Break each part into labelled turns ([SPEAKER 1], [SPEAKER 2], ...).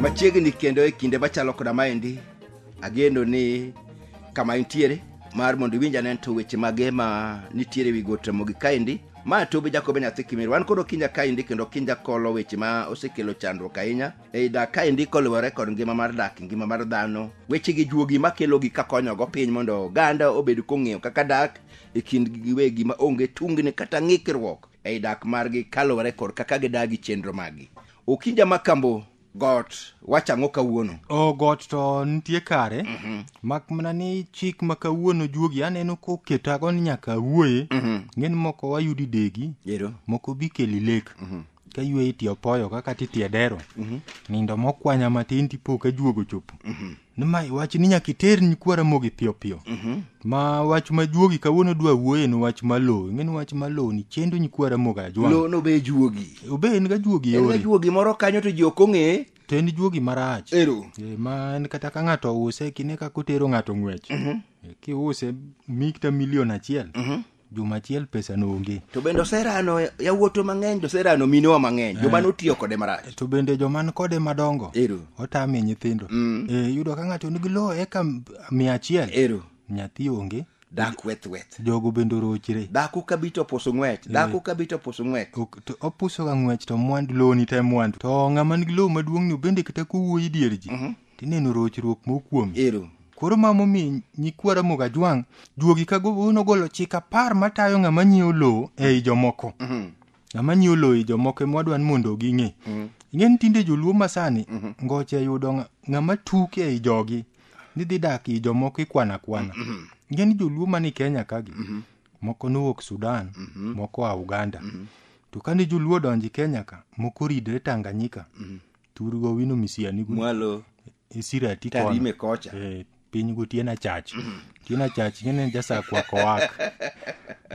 [SPEAKER 1] machiegni kendo e kinde machalo koda maendi ageno ni kama intiere mar mondo iwinj ane to weche mage ma nitiere wi got ramogi kaendi ma tobe jakobe nyathi kimir wan koro kinja kaendi kendo kinja kolo weche ma osekelo chandruok ahinya ei dak kaendi koluwore kod ngima mar dak ngima mar dhano weche gi juogi makelogi kakonyogo piny mondo oganda obed kong'eyo kaka dak e kindgi giwegi ma onge tungni kata ng'ikruok ei dak margi kaluwore kod kaka gidagi chenro maggi okinja ma kambo got wacho ang'o kawuono o got to
[SPEAKER 2] nitie kare mak mana ni chik ma kawuono juogi aneno koketago ni nyaka awuoye ng'en moko wayudi degi ero moko bikeli lek ka yweyi ti opoyo kaka titi e dero mhm. nindo mokwanya matin tipo ka juogo chopo mhm. nima wach ni nyaka iter nyikwa ramogi piyo piyo mhm. ma wach ma juogi kawuono dwa wuoye ni wach ma lowo ing'eni wach ma lowo ni chendo nyikwa ramogi ajwang' obe juogi
[SPEAKER 1] obe en ga juogi
[SPEAKER 2] yore en ga juogi moro kanyo to
[SPEAKER 1] ji ok ong'e to en juogi
[SPEAKER 2] marach ero e, ma
[SPEAKER 1] en kata ka
[SPEAKER 2] ng'ato ouse kine kaka otero ng'ato ng'wech kiuse mikta milion achiel juma achiel pesa noonge to bende oserano
[SPEAKER 1] yawuoto mang'eny to oserano minewa mang'eny joma eh. notiyo kode marach to bende joma kode
[SPEAKER 2] madongo otame
[SPEAKER 1] nyithindo
[SPEAKER 2] mm. e, yudo ka ng'ato nigi lowo eka mia achiel nyathi
[SPEAKER 1] onge
[SPEAKER 2] dak weth weth
[SPEAKER 1] jogo bende orochre
[SPEAKER 2] dhako kabi to opuso
[SPEAKER 1] ng'wech eh. dhako kabi to opuso ng'wech to opusoga
[SPEAKER 2] ng'wech to mwandu lowoni te mwandu to ng'ama nigi lowo maduong'ni bende kata kowuoyi dier ji mhm. tineno rochruok mokuom ero koro ma
[SPEAKER 1] momi
[SPEAKER 2] nyikwa ramoga jwang' juogi ka go- nogolo chik apar matayo ng'ama nyiewo lowo ei jomoko ng'ama nyiewo lowo ei jomoko ema wadwa ni mondo ging'e ing'e ni tinde joluo masani ngoche yudo ng'a- ng'ama tuk ei jogi ni dhi dak ei jomoko ikwana kwana ing'e ni joluo mani kenya kagi moko nowuok sudan moko a uganda to kane joluo odonjo kenya ka moko ridre tanganyika tur go wino misiani gu mwalo
[SPEAKER 1] isira ti kono
[SPEAKER 2] tarime kocha Eh,
[SPEAKER 1] piny gu tien
[SPEAKER 2] achach tien achach ngene jasakwa kowak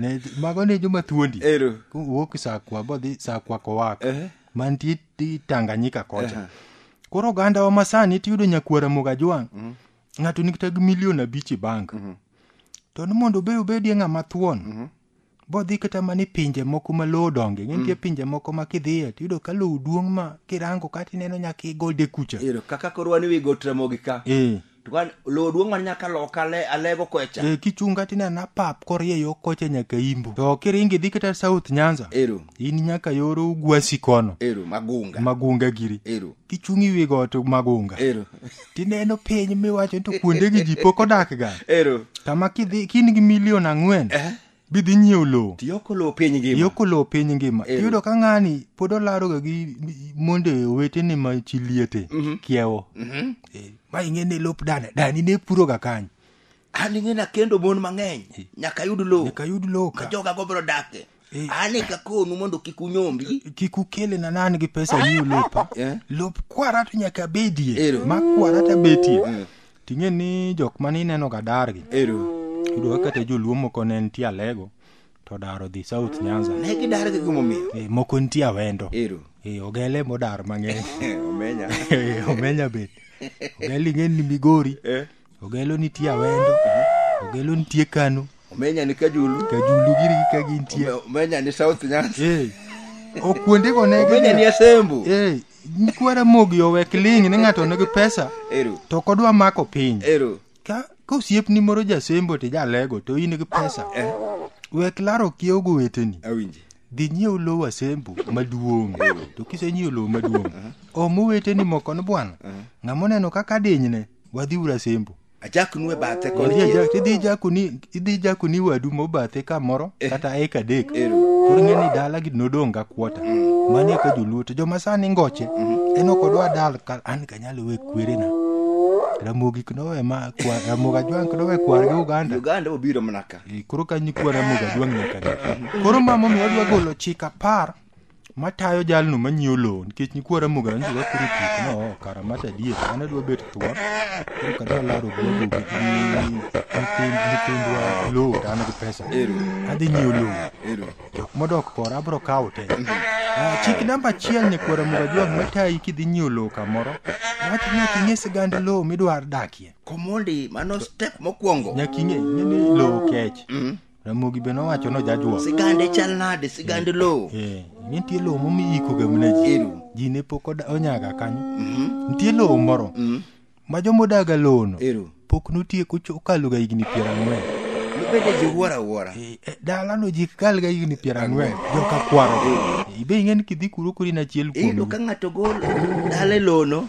[SPEAKER 2] ne mago ne joma thuondi ero wuok
[SPEAKER 1] sakwa
[SPEAKER 2] bodhi sakwa kowak Ehe. mantie ti tanganyika kocha Aha. koro ogandawa masani tiyudo nyakwara mogajwang ng'ato nikta gi milion abich e bank to ni mondo be obedie ng'ama thuon bodhi kata mana e pinje moko ma lowo donge mm. nitie pinje moko ma kidhiye to yudo ka lowo duong' ma kirango kata ineno nyaka igode kucha ero kaka koro wan iwi
[SPEAKER 1] got ramogi ka e. to kan lowo duong' man nyaka loka ale alego kocha e kichung' kata ineno apap
[SPEAKER 2] korie yo kocha nyaka imbo to kiringi dhi kata south nyanza ero in nyaka
[SPEAKER 1] yoro
[SPEAKER 2] ugwasi kono ero magunga
[SPEAKER 1] magunga giri ero
[SPEAKER 2] kichung' iwi
[SPEAKER 1] got
[SPEAKER 2] magunga ero tineno
[SPEAKER 1] piny
[SPEAKER 2] miwacho ni to kuondegi ji pok odakga ero kama kidhi
[SPEAKER 1] kin
[SPEAKER 2] gi milion ang'wen eh bidhi nyiewo lowo tiyoko lowo piny ngima
[SPEAKER 1] yoko lowo piny ngima
[SPEAKER 2] Ero. iyudo ka ng'ani pod olaroga gi monde owetene ma chi liete kiewo Mhm. Eh, ma ing'e ni lop dane dani ne puroga kanyo an ing'e
[SPEAKER 1] nakendo mon mang'eny nyaka ayud lowo nyaka ayud lowo ma ka joga
[SPEAKER 2] go biro dake
[SPEAKER 1] Eh. an eka konu mondo kik unyombi kik ukele na nan
[SPEAKER 2] gi pesa ni ulopa Eh. lop kwara to nyaka bedie Ero. ma kwara ta betie ting'e ni jok mane ineno ga dargi ero yudo
[SPEAKER 1] kaka te joluo
[SPEAKER 2] moko ne nitie alego to dar odhi south nyanza ne gidar gi gimomiyo
[SPEAKER 1] Eh, moko nitie awendo
[SPEAKER 2] ero Eh, ogele
[SPEAKER 1] modar
[SPEAKER 2] mang'eny omenya
[SPEAKER 1] Eh, omenya
[SPEAKER 2] bet ogele ing'e ni migori Eh. ogelo nitie awendo ogelo nitie kano omenya ni kajulu
[SPEAKER 1] kajulu giri gi kagi
[SPEAKER 2] nitie Ome- omenya ni south
[SPEAKER 1] nyanza eh o
[SPEAKER 2] kuondego ne omenya ni asembo
[SPEAKER 1] eh nyikwara
[SPEAKER 2] mogi owek ling ni ng'ato nigi pesa ero to ok odwa
[SPEAKER 1] mako
[SPEAKER 2] piny ero ka
[SPEAKER 1] ka osiepni
[SPEAKER 2] moro jasembo to ijalego to in gi pesa wek laro kiewo go weteni awinji dhi nyiew
[SPEAKER 1] lowo
[SPEAKER 2] asembu maduong' to kisenyiew lowo maduong' om oweteni moko ni bwana ng'ama oneno kaka adinyne wadhi ura asembu Ajak nue bathe
[SPEAKER 1] Idhi koni. ajak- idhi jakoni idhi jakoni
[SPEAKER 2] wadu mobathe kamoro kata eka adek koro ing'e ni dala gi nodong' ga kuota manie ka joluo to joma sani ngoche en ok odwa dal ka an kanyalo we kwerena ramogi knowe ma kwa- ramogi ajwang' knowe kwargi uganda Uganda obiro mana ka.
[SPEAKER 1] Eh, koro ka nyikwa
[SPEAKER 2] ramogi aduang' nyaka ne koro ma momiyo adwa golo chik apar matayo jalno manyiewo lowo nikech nyikwa ramogi anjo wakoro tik no oh, kara mata adier an adwa bet thuon koro kadwa laro gwago gi nyithind- nyithindwa lowo to an gi pesa Ero. adhi nyiewo lowo Ero. jok modok kora abro kawo te Ah, chik namba achiel nyikwara muga jwang matayi kidhi nyiewo lowo kamoro wach nyaka ing'e sigand lowo midwar dakie komondi mano step
[SPEAKER 1] mokwongo
[SPEAKER 2] nyaka ing'e
[SPEAKER 1] ing'e ni
[SPEAKER 2] lowo kech ramogi be nowacho nojajwa sigande chal nade
[SPEAKER 1] sigande lowo Eh, nitie lowo
[SPEAKER 2] momiikoga mna ji Ero. ji ne pok oda- onyaga kanyo nitie lowo moro Mm. ma jomodaga lowono ero pok notieko cho- okaloga higni piero ang'wen nobede
[SPEAKER 1] jiwuoro awuora Eh, eh, dalano ji
[SPEAKER 2] kalga higni piero ang'wen joka kwaro ibe ing'e ni kidhi kuro kori na achiel iyudo kuom ka ng'ato gol
[SPEAKER 1] dale lono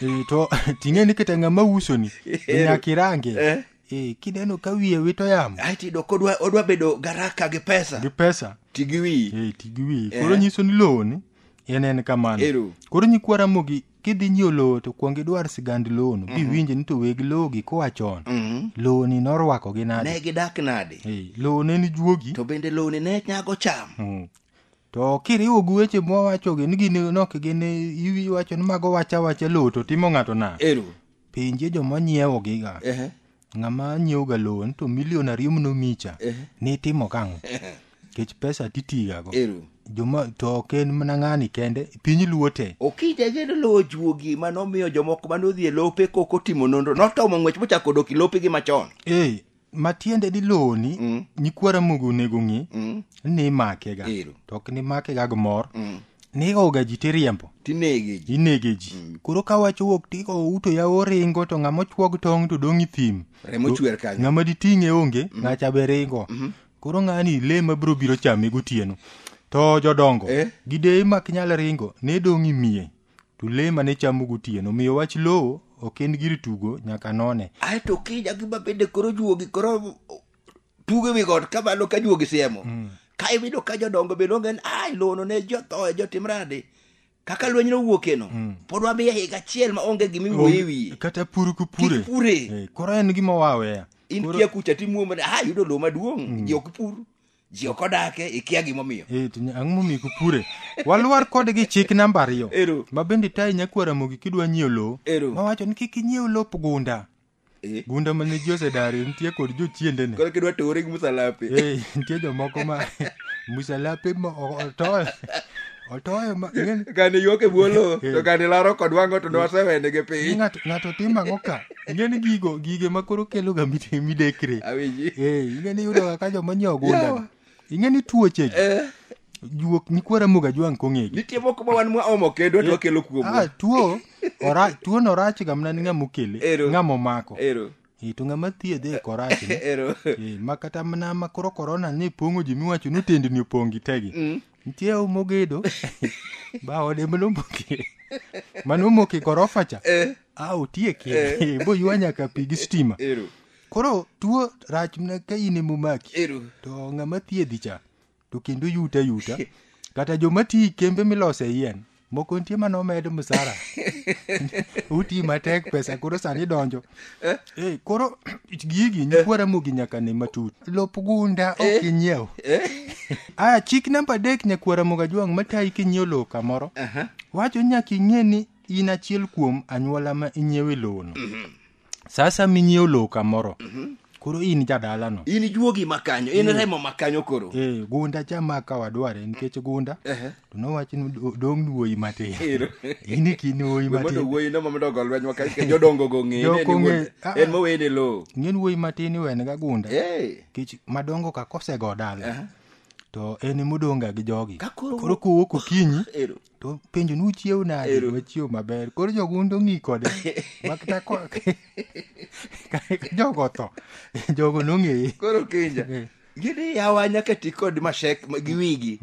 [SPEAKER 1] Eh, to
[SPEAKER 2] ting'eni kata ng'ama usoni Eh. nyakirange Eh. Eh, kineno ka wiye wito yamo ae tiyudo kodwa odwa
[SPEAKER 1] bedo garaka gi pesa gi pesa ti gi wiyi Eh, ti gi wiyi Eh. koro
[SPEAKER 2] nyiso ni lowo ni en en kamano Ero. koro nyikwa ramogi kidhi nyiewo lowo to kwong idwar sigand lowono biwinje ni to weg lowo gi koa chon Mhm. lowo ni norwakogi nade ne gidak nade Eh,
[SPEAKER 1] lowo ne ni
[SPEAKER 2] juogi to bende lowni ne
[SPEAKER 1] nyago cham Mm. To
[SPEAKER 2] kiriwo gi weche mwawachogi ni gin nok gin iwacho ni mago wacha wacha lowo to timo ng'ato na. Ero. Penje joma nyiewo giga. Ehe. Ng'ama nyiewo ga lowo ni to milion ariyo mno micha. Ehe. Ni itimo kang'o? Kech pesa titigago. Ero. Joma to ok en mana ng'ani kende piny luo te. Okija gedo lowo
[SPEAKER 1] juogi mane omiyo jomoko mane odhi e lope kok otimo nonro notomo ng'wech mochako dok i lopegi machon. Ee. matiende
[SPEAKER 2] ni lowo ni Mm. nyikwa ramogi onego ng'i Mm. ni imakega Ero. to ok nimakega gi mor Mm. nigoga ji tiriembo tinege ji inege ji koro ka wach owuok tigo uto ya oringo to ng'ama ochuog tong' to dong' i thim remo chwer kanyo ng'ama
[SPEAKER 1] diting'e onge
[SPEAKER 2] ng'acha be ringo koro ng'ani le ma biro biro chame gotieno to jodongo Eh. gideye mak nyal ringo ne dong' imiye to le mane chamo gotieno miyo wach lowo ok en gir tugo nyaka none ae to kiny agima
[SPEAKER 1] bende koro juogi koro tugo ewi got ka malo ka juogi siemo ka iwinjo ka jodongo bende onge ni ai lono ne jothoe jotim rade kaka lweny nowuokeno pod wamiye higa achiel ma onge gima iwuoye wiye kata pur kupure
[SPEAKER 2] Kik pure. Eh, koro en gima waweya in kia kucha
[SPEAKER 1] timuomone ah yudo lowo maduong' ji ok pur ji ok odake ikia gimomiyo e to nya- ang'o momiyo kupure
[SPEAKER 2] walwar kodgi chik namba ariyo Ero. ma bende tayi nyakwara mogi kidwa nyiewo lowo Ero. mawacho ni kik inyiew lop gunda Eh. gunda mane ji osedari nitie kod jochiendene koro kidwa tore gi
[SPEAKER 1] musalape Eh, nitie jomoko
[SPEAKER 2] ma musalape ma o- otoyo otoyo ma ng'e- kane yuok e bwolo
[SPEAKER 1] to kane laro kod wango to nwasewenege piny ng'ato ng'ato timo ang'o
[SPEAKER 2] ka ing'eni gigo gige ma koro keloga mite- midekre Awinji. Eh, ing'eni yudoga ka joma nyiewo ogundani Yawa. ing'eni tuochegi Eh, juok nikwaramoga jwang' kong'egi nitie moko ma wan mwaomo
[SPEAKER 1] kendo to wakelo Ah, kuomwa. tuo ora-
[SPEAKER 2] tuono orachga mana ni ng'ama okele Ero. ng'ama omako Ero, Eh, to ng'ama thiedhe e korachne ero. Eh, ma kata mana ma koro korona ne pong'o ji miwacho ni otendni opong' gitegi Mm. nitie u mogedo ba ode manomoke manomoke gorofa cha Eh. a otieke Eh. boywa nyaka pi gi stima Ero. koro tuo rach mna ka in emomaki Ero. to ng'ama thiedhi cha to kendo yuta yuta kata joma ti kembe milose yien moko nitie mane omed msara uti matek pesa koro sani donjo Eh, koro gigi nyikwa ramogi nyaka ne matut lop gunda ok inyiew aya chik namba adek nyakwa ramoga jwang' matayi kinyiew lowo kamoro wacho nyaka ing'e ni in achiel kuom anyuola ma inyiewe lowono sasa minyiewo lowo kamoro mhm. koro in jadalano in juogi makanyo
[SPEAKER 1] in mm. remo makanyo koro e, gunda cha ma ka
[SPEAKER 2] wadware nikech gunda uh -huh. to nowach ni dong' wuoyi matin in kin wuoyi matin wuoyi no mamedo go lweny
[SPEAKER 1] maka nikech jodongo go ng'eye ah, en mowene lowo ng'en wuoyi matin
[SPEAKER 2] iwene ga gunda nikech madongo ka kosego dala uh -huh to en emodon'ga gi jogi koro kowuok okinyi to penjo ni uchiew nade Ero. wachiew maber koro jogundu ng'i kode makta ko- jogo otho jogo nong'eye koro kenja Eh.
[SPEAKER 1] gini yawa nyaka ti kod mashek ma- gi wigi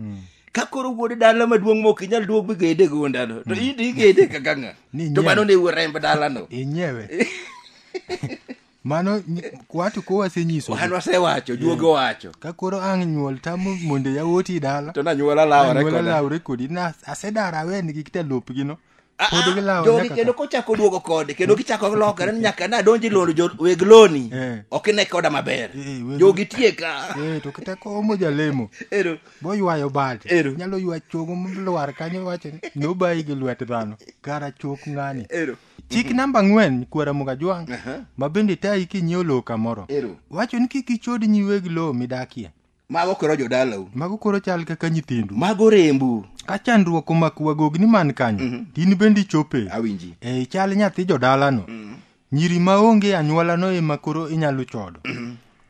[SPEAKER 1] ka koro wuod dala maduong' mok inyal duog bigede gondano to in to igede kaka ng'a Ni to nyiew. mano ne wuo remb dalano inyewe
[SPEAKER 2] mano ny- watu ko wasenyiso wan wasewacho
[SPEAKER 1] duoge owacho ka koro ang' nyuol
[SPEAKER 2] tamo mondo yawuoti dala to
[SPEAKER 1] nanyuola
[SPEAKER 2] lawore anyuola koda lawre
[SPEAKER 1] kodi
[SPEAKER 2] na asedara aweni gi kita lopgino Ah, pod ah, gilawo jogi nyaka kendo ka- kochako duogo
[SPEAKER 1] kode kendo kichako lokore ni nyaka nadonji londo jo- weg loni Eh. ok ine koda maber Eh, weg- jogi tieka Eh, to kata komo
[SPEAKER 2] jalemo Ero. boywayo
[SPEAKER 1] bade
[SPEAKER 2] Ero. nyalo ywa chogo molwar kanyo wacho ni nobayi gi lwet dhano kara chok ng'ani Ero. chik
[SPEAKER 1] namba ang'wen
[SPEAKER 2] kwara mugajwang' Aha. ma bende tayi kinyiewo lowo kamoro Ero. wacho ni kik ichod nyi weg lowo midakie Mago koro
[SPEAKER 1] jodalau. mago koro chal kaka
[SPEAKER 2] nyithindu Mago rembu.
[SPEAKER 1] ka chandruok
[SPEAKER 2] omako wagogni man kanyo to in bende ichope Awinji. e chal
[SPEAKER 1] nyathi
[SPEAKER 2] jodalano nyiri maonge anyuolano ema koro inyalo chodo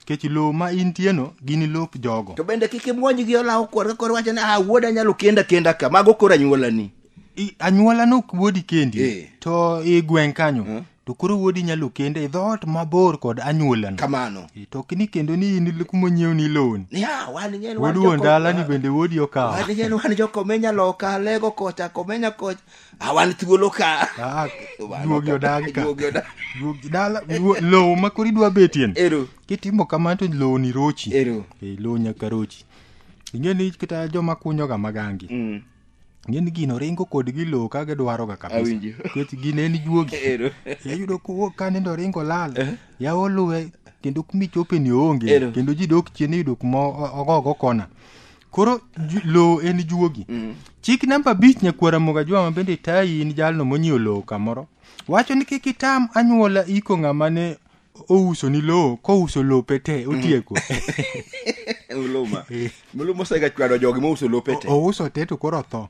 [SPEAKER 2] kech lowo ma intieno ginilop jogo to bende kik imwony gi
[SPEAKER 1] olawo kor ka kor wacho ni ah wuoda anyalo kenda kenda ka mago koro anyuolani I- anyuola
[SPEAKER 2] nok wuodi kendi Eh. to i gweng' kanyo to koro wuodi nyalo kende e dhoot mabor kod anyuolano kamano E, to ok
[SPEAKER 1] ni kendo ni
[SPEAKER 2] in kuma onyiew ni lowoni ni ah wan ng'en wan wuod wuon joko- dalani bende wuodi okawo wan ng'en wan jokomenya
[SPEAKER 1] loka lego kocha komenya kocha awan thuolo ka Ah, Wan duogi
[SPEAKER 2] ok- odagi ka duogi odagi. duogi dala duo- lowo ma koro idwa betien ero kitimo kamano to lowo ni rochi ero Eh, lowo nyaka rochi ing'e ni kata joma kunyoga magangi Mm, ing'e ni gino ringo kodgi lowo ka gidwaroga kabisa awinjo nikech gin en juogi ero iyudo kowuok ka nindo ringo lal yawo luwe kendo kumichope ni oonge Ero. kendo ji dok chien iyudo kuma o- ogogo kona koro lowo en juogi mm. chik namba abich nyakwara moga jwama bende tayi in jalno monyiewo lowo kamoro wacho ni kik itam anyuola iko ng'ama ne ouso ni lowo kouso lope te mm. otieko
[SPEAKER 1] muluma osega chwado jogi mouso lope te ouso te to koro otho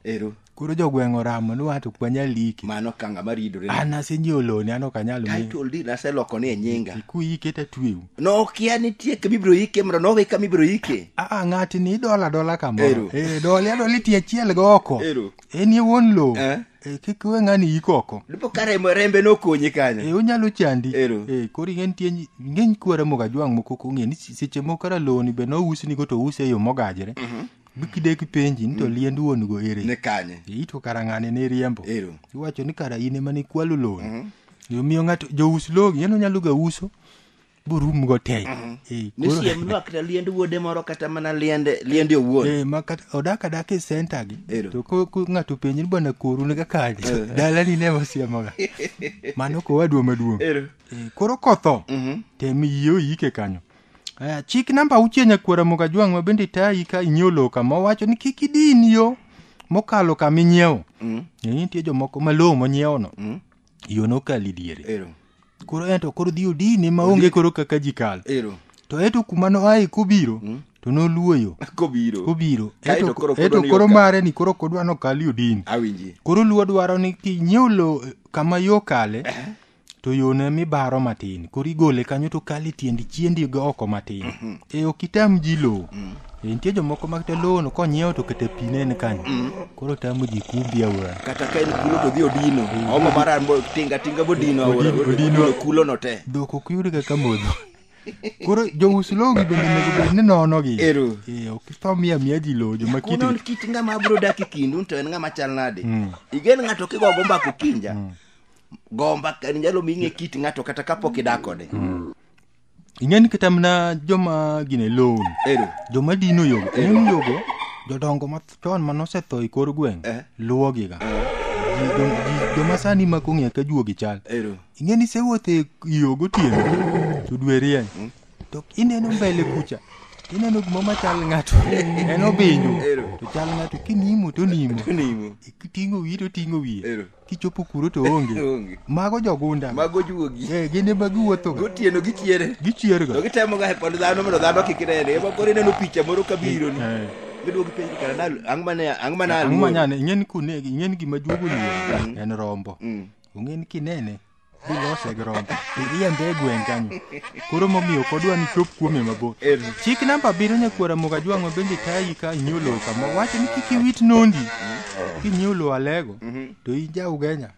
[SPEAKER 2] koro jogweng' oramo ni wato ok wanyal liki mano ka ng'ama ridore
[SPEAKER 1] an asenyiewo loni an
[SPEAKER 2] ok anyal mi title deed naseloko
[SPEAKER 1] ni e nyinga kuike to atweu
[SPEAKER 2] nokia nitie
[SPEAKER 1] kama ibiro ike mondo nowe kama ibiro ike aa ng'atni idola
[SPEAKER 2] adola Ero. kamoro Eh, doli adoli ti achiel go oko Ero. en ye wuon lowo Eh. Eh, kik we ng'ani yik oko dipo ka remo- rembe
[SPEAKER 1] nokonyi kanyo Eh, onyalo chandi Ero.
[SPEAKER 2] Eh, koro ing'e nitie nyi- ng'eny kwara mogajwang' moko kong'e ni si- seche moko kara loni be nousnigo to ouse e yo mogajre bikidek penji ni to liend wuon go ere ni kanye Ee, to
[SPEAKER 1] kara ng'ane ne
[SPEAKER 2] riembo ero iwacho ni kara in ema nikwalo loan omiyo ng'ato jous logi en onyalo ga uso borum go teny Ee, ni koro- siem
[SPEAKER 1] nwakta liend wuode moro kata mana liende liende owuon Ee, ma kata- odak adaka
[SPEAKER 2] e senta gi Ero. to ko ko ng'ato penji ni bwana koru ne kakanye dalani ne wasiemoga mano kowadwa maduong' Ero. Ee, koro kotho Mhm. tem yie oyike kanyo Aya, chik namba auchiel nyakwara Mogajwang' ma bende tayi ka inyiewo lowo kama owacho ni kik idin yo mokalo kama inyiewo. Mm. Ne nitie jomoko ma lowo monyiewono Mm. yo nokalo e diere. Ero. Koro ento koro dhi odine ma onge koro kaka ji kalo. Ero. To eto kuma noaye kobiro to noluwo yo Kobiro. kobiro. Kae to Eto koro eto kodwani koro okal. mare ni koro kodwa nokal odin. Awinji. Koro luwo dwaro ni kinyiewo lowo kama yo kale to yone mibaro matin koro igole kanyo to kale tiendi chiendi go oko matin mhm. e ok itam ji lowo mm. e, nitie jomoko makata lowono konyiewo to kata pi ne en kanyo mm. koro tamo ji kumbi aora kata ka en kulo to dhi
[SPEAKER 1] odino e, omo mara tinga tinga bodino aora odino kulono te dhok ok yud kaka
[SPEAKER 2] modho koro jous logi bende nego bed ni nonogi ero eh, ok tho miya miya ji lowo joma kiti kunon kit ng'ama abro
[SPEAKER 1] dak e kindu to en ng'ama chal nade mm. igen ng'ato kigogo mbako kinja mm. gomba ka- nyalo mi ing'e kit ng'ato kata kapok idak kode
[SPEAKER 2] ing'eni kata mana joma gine loan ero joma dino yogo en yogo jodongo machon ma nosetho e kor gweng' Eh. luwogiga Ji- jo- ji- joma sani ma kong'e ka juogi chal ero ing'e ni sewuotho e yo gotieno to dwe rieny to ineno mbele kucha ineno gima machal ng'ato en obinjo Ero. to chal ng'ato kinimo to nimo nimo kiting'o wiye to ting'o wiye ero kichopo kuro to onge Onge. mago jogunda Mago juogi. Eh,
[SPEAKER 1] gin ema giwuothoga
[SPEAKER 2] Gotieno gichiere. To
[SPEAKER 1] gichierga gitemoga he pond dhano mondo dhano kik nene. Ema koro ineno picha moro kabiro ni. Eh. Giduogi penjo kara na ang' mane ang' mane ang'o aluoro. manyane ing'eni kunegi ing'eni
[SPEAKER 2] gima juogo luoro en rombo Mm. ong'eni kinene bilose gi rombo ilia ndegu en kanyo koro momiyo ok odwa ni chop kuome mabor chik namba abiriyo nyakwara moga jwang'o bende tayi ka inyiewo lowo kama wacho ni kik iwit nondi kinyiewo lowo alego to in ja ugenya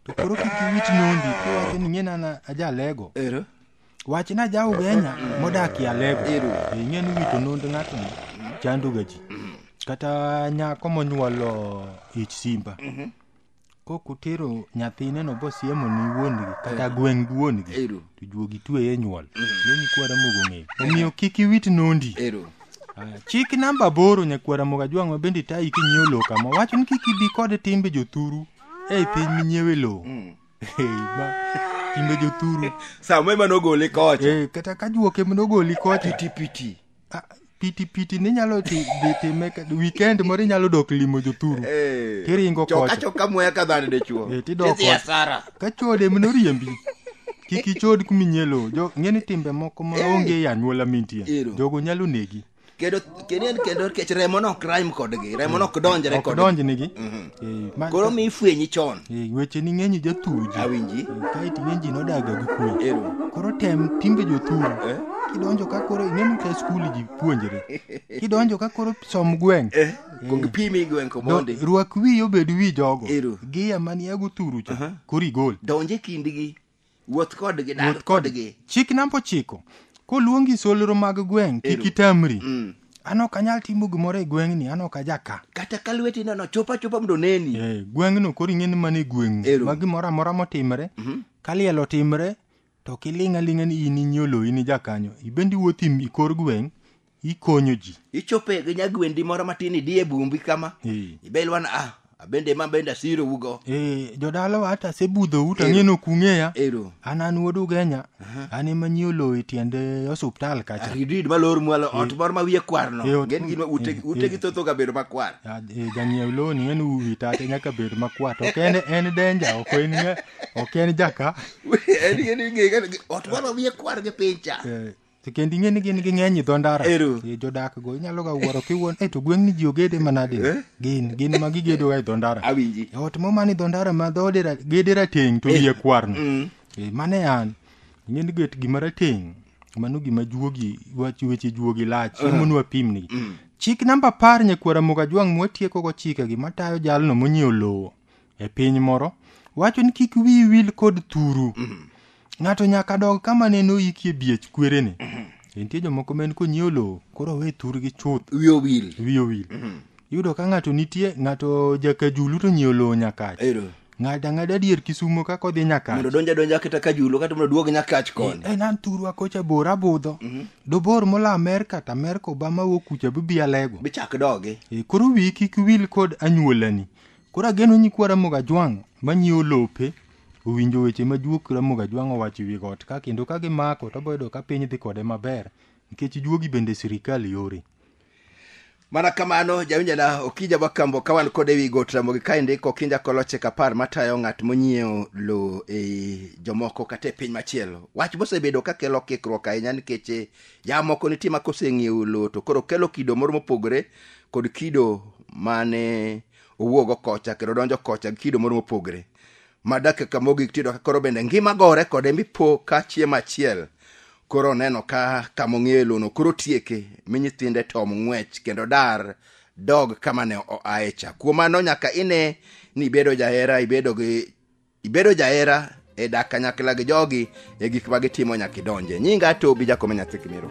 [SPEAKER 2] to koro kik iwit nondi kiwacho ni ng'e nana ajalego ero wach na ja ugenya modakie alego Ero. ing'e ni wito nond ng'atno chandoga ji kata nyako monyuolo ich simba kok utero nyathineno bosiemo ni wuongi kata eh. gweng' gi wuongi to juogi tweye nyuol mm. ne nyikwara mogo ng'eyo eh. omiyo kik iwit nondi chik namba aboro nyakwara mogo ajwang' ma bende tayi kinyiewo lowo kama wacho ni kik ibi kod timbe jothuru ei piny minyiewe lowo mm. timbe jothuru sama ema nogoli
[SPEAKER 1] kocha eh, kata ka juoke
[SPEAKER 2] nogoli kocha pitipiti
[SPEAKER 1] Ah, piti
[SPEAKER 2] piti ni nyalo ti dhi time ka- weekend moro inyalo dok limo jothuru Eh, Tiringo choka kocha. choka muya ka dhano
[SPEAKER 1] dichuo Eh, tidok Tidhi kocha. asara.
[SPEAKER 2] ka chode mno riembi kik ichod kuminyelo jo ng'eni timbe moko ma Eh. onge e anyuola mintie Ero. jogo nyalo negi kendo kendo
[SPEAKER 1] en kendo kech remo no crime kodgi remo no ok donjre ok kodgi donjnegi Mhm. Eh,
[SPEAKER 2] ma- koro
[SPEAKER 1] mi ifwenyi chon Eh, weche ni ng'eny
[SPEAKER 2] jathuji awinji kaeti
[SPEAKER 1] ng'eny ji
[SPEAKER 2] nodaga gi kwe ero koro tem timbe jothuru Eh? kidonjo ka koro ing'eni ka skul ji puonjre kidonjo ka koro som gweng' eh kong pimi
[SPEAKER 1] gwen ko do- mondi rwak wiyi obed
[SPEAKER 2] wi jogo Ero. giya maniago thuru cha koro igol donje kindgi
[SPEAKER 1] wuoth kodgi dag Wuoth kodgi. kodgi Chik namba ochiko.
[SPEAKER 2] Koluongi solro mag gweng' kik Ero. itamri. Mm. An ok anyal timo gimoro e gweng'ni, an ok aja ka. kata ka lweti nono
[SPEAKER 1] chop achopa mondo oneni Eh, gweng'no koro ing'e ni
[SPEAKER 2] mano e gweng'u. Ero. Ma gimoro amora motimre, ka liel otimre, to ok iling' aling'a ni in inyolo in ijakanyo. Ibende iwuotho im- i kor gweng' ikonyo ji ichope gi nyagwendi
[SPEAKER 1] moro matin idi e bumbi kama Eh. ibelwana ah abende ma bende asiro ugo Eh, jodalawa hata
[SPEAKER 2] asebudhou to ang'e ni ok ung'eya ero an an wuod ugenya an ema nyi oloyo e tiend eh, osuptal kacha ridid malor mwalo
[SPEAKER 1] ot moro ma wiye kwarno Eh, ot- gen gin ma ute eh, ute eh. gi thotho ga bedo makwar Ah, eh, jang'iew loni
[SPEAKER 2] en uwi tate nyaka bed makwat ok en en denja ok en ng'a- ok en jaka en en ing'e
[SPEAKER 1] ga- ot moro ma wiye kwar gi piny cha Eh, To kendo ing'e ni
[SPEAKER 2] gin gi ng'eny i dho ndara Ero. Eh, jodak go inyalo ga wuoro kiwuon e to gweng'ni ji ogede manade Eh? gin gin ma gigedoga e dho ndara awinji E ot moma ni
[SPEAKER 1] dho ndara
[SPEAKER 2] ma dhoode ra- gede rateng' to wiye kwarno Mm. Eh, mane an ing'e ni get gima rateng' mano gima juogi wach weche juogi lach emonu apimni chik namba apar nyakwara mugajwang' mwatiekogo chikegi matayo jalno monyiewo lowo e piny moro wacho ni kik wiyi wil kod thuru ng'ato nyaka dog kama ne noikie biech kwerene nitie jomoko ma en konyiewo lowo koro we thurgi chuth wiyo wil wiyi
[SPEAKER 1] owil yudo ka
[SPEAKER 2] ng'ato nitie ng'ato jakajulu to nyiewo lowo nyakach ero ng'ato ang'ada dier kisumo kaka odhi nyakach mondo donja donja kata ka
[SPEAKER 1] julo kata mondo duog nyakach koni en an thurwa kocha
[SPEAKER 2] bor abudho dobor mola amerka to amerka obama wuok kucha bibi alego bichak dogi E,
[SPEAKER 1] koro wiyi kik
[SPEAKER 2] wil kod anyuolani Koro ageno nyikwa Ramogi Ajwang' manyiewo lope owinjo weche ma juok Ramogi Ajwang' owacho e wi got ka kendo ka gimako to boyudo ka piny dhi kode maber nikech juogi bende sirikal yore.
[SPEAKER 1] Mana kamano, jawinjana Okija Bakambo ka wan kod ewi got Ramogi ka indiko kinja koloche kapar matayo ng'at monyiewo lowo ei jomoko kata e piny machielo. Wach mosebedo ka kelo kikruok ahinya nikech eh, jamoko nitie ma koseng'iewo lowo to koro kelo kido moro mopogore kod kido mane owuogo kocha kendo donjo kocha gi kido moro mopogre ma dakika ka mogik tiyudo ka koro bende ngima gore kode mipo ka chiemo achiel koro oneno ka kama ong'eyo e lono koro tieke mi nyithinde tom ng'wech kendo dar dog kama ne oaye cha kuom mano nyaka ine ni ibedo jahera ibedo gi ibedo jahera e dak kanyakla gi jogi e gik ma gitimo nyaka idonje nyinga atobi jakome nyathi kimiro